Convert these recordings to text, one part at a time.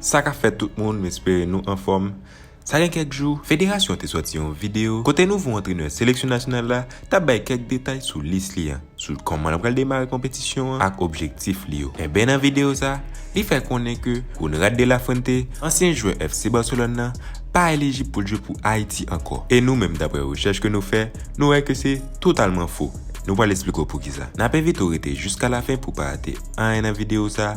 Sa kap fèt tout moun, m espere nou anfòm. Sa gen kèk jou, federasyon te sòti yon videyo kote nouvo antrenè seleksyon nasyonal la T ap bay kèk detay sou lis li an, sou kòman l pral demare konpetisyon an ak objektif li yo. Enben nan videyo sa, li fè konnen ke Konrad de la Fuente, ansyen jwè FC Barcelone nan, pa elijib pou l jwe pou Ayiti ankò. E nou menm daprè rechèch ke nou fè, nou wè ke se totalman fo. Nou pral esplike w poukisa. N ap envite w rete jiskalafen pou w pa rate anyen nan videyo sa.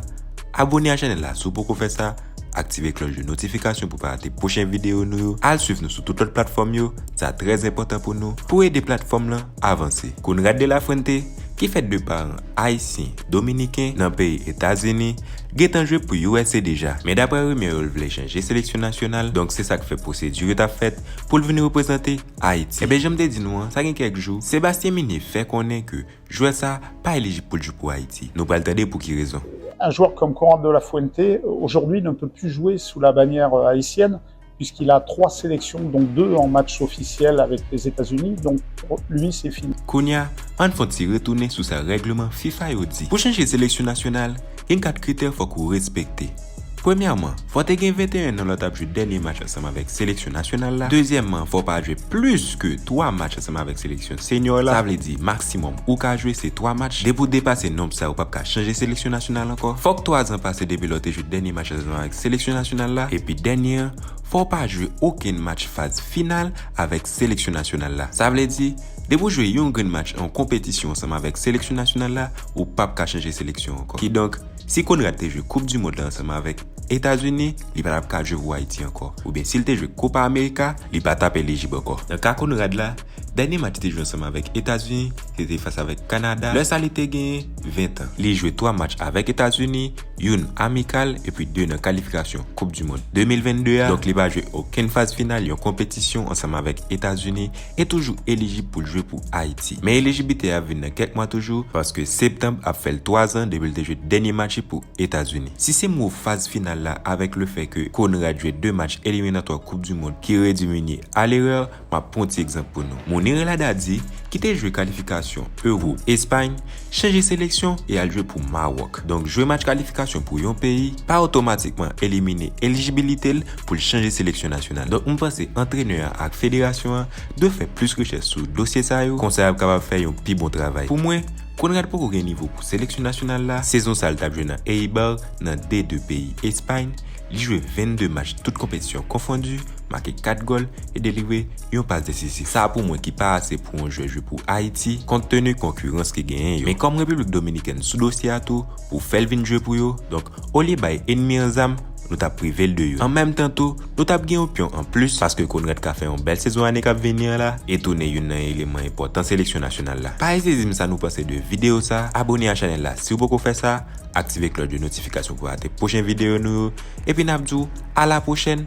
Abone a chanèl la si w poko fè sa. Aktive klòch de notifikasyon pou pa rate pwochen videyo nou yo, al swiv nou sou tout lòt platfòm yo, sa trè enpòtan pou nou, pou ede platfòm lan avanse. Conrad de la Fuente, ki fèt de paran Ayisyen, Dominiken, nan peyi Etazini, gentan jwe pou usa deja, men daprè rimè yo l vle chanje seleksyon nasyonal, donk se sak fè pwosedi yo tap fèt pou l vin reprezante Ayiti. Enben janm te di nou an, sa gen kèk jou, Sébastien Migné fè konnen ke Jwè sa pa elijib pou l jwe pou Ayiti. Nou pral tande pou ki rezon. Un joueur comme Coran de la Fuente aujourd'hui ne peut plus jouer sous la bannière haïtienne puisqu'il a trois sélections dont deux en match officiel avec les États-Unis donc pour lui c'est fini. Kounya ann fon ti retounen sou sa règlement fifa yo di pou chanje seleksyon nasyonal gen 4 kritè fòk ou respekte. Premyèman, fò w te gen 21 nan lè w t ap jwe dènye match ansanm avèk seleksyon nasyonal la. Dezyèmman, fò w pa jwe plis ke 3 match ansanm avèk seleksyon senyò la. Sa vle di, maksimòm ou ka jwe se 3 match. Depi w depase nonb sa yo, w p ap ka chanje seleksyon nasyonal ankò. Fòk 3 zan pase depi lè w te jwe dènye match ansanm avèk seleksyon nasyonal la. Epi dènye an, fò w pa jwe okenn match faz final avèk seleksyon nasyonal la. Sa vle di, depi w jwe yon grenn match nan yon konpetisyon ansanm avèk seleksyon nasyonal la, ou p ap ka chanje seleksyon ankò. Kidonk, Si Konrad te jwe koup di mond la ansanm avèk Etazini, li pa t ap ka jwe pou Ayiti ankò. Oubyen si l te jwe Kopa Amerika, li pa t ap elijib ankò. Nan ka Konrad la, dènye match li te jwe ansanm avèk Etazini, se te fas avèk Kanada, lè sa li te genyen 20 tan. Li jwe 3 match avèk Etazini, youn amikal epi 2 nan kalifikasyon koup di mond 2022 a, donk li pa jwe okenn faz final yon konpetisyon ansanm avèk Etazini, e toujou elijib pou l jwe pou Ayiti. Men elijiblite a ap vin nan kèk mwa toujou paske septanb ap fè l 3 zan depi l te jwe dènye match li pou Etazini. Si se m wou faz final la avèk le fè ke Konrad jwe 2 match eliminatwa koup du mond ki redui Munir a l'erreur, m ap pran yon ti egzanp pou nou. Munir El Haddadi, ki te jwe kalifikasyon Euro Espagne, chanje seleksyon e al jwe pou Mawòk. Donk jwe match kalifikasyon pou yon peyi pa otomatikman elimine elijibilite l pou l chanje seleksyon nasyonal. Donk m panse antrenè an ak federasyon an dwe fè plis rechèch sou dosye sa yo konsa y ap kapab fè yon pi bon travay. Pou mwen, Konrad poko gen nivo pou seleksyon nasyonal la, sezon sa l t ap jwe nan Eibar nan D2 peyi Espay, li jwe 22 match tout konpetisyon konfondi, make 4 gòl e delivre yon pas desisif. Sa pou mwen ki pa ase pou yon jwè jwe pou Ayiti kont tenu konkirans ki genyen yo. Men kòm Repiblik Dominikèn sou dosye a tou pou fè l vin jwe pou yo, donk olye bay enmi an zam, nou t ap prive l de yo. An menm tan tou, nou t ap gen yon pyon an plis paske Conrad ka fè yon bèl sezon ane k ap vini an la e tounen youn nan eleman enpòtan seleksyon nasyonal la. Pa ezite di m sa nou panse de videyo sa, abone a chanèl la si w poko fè sa, aktive klòch de notifikasyon pou rate pwochen videyo nou yo, epi n ap di w a la pwochèn!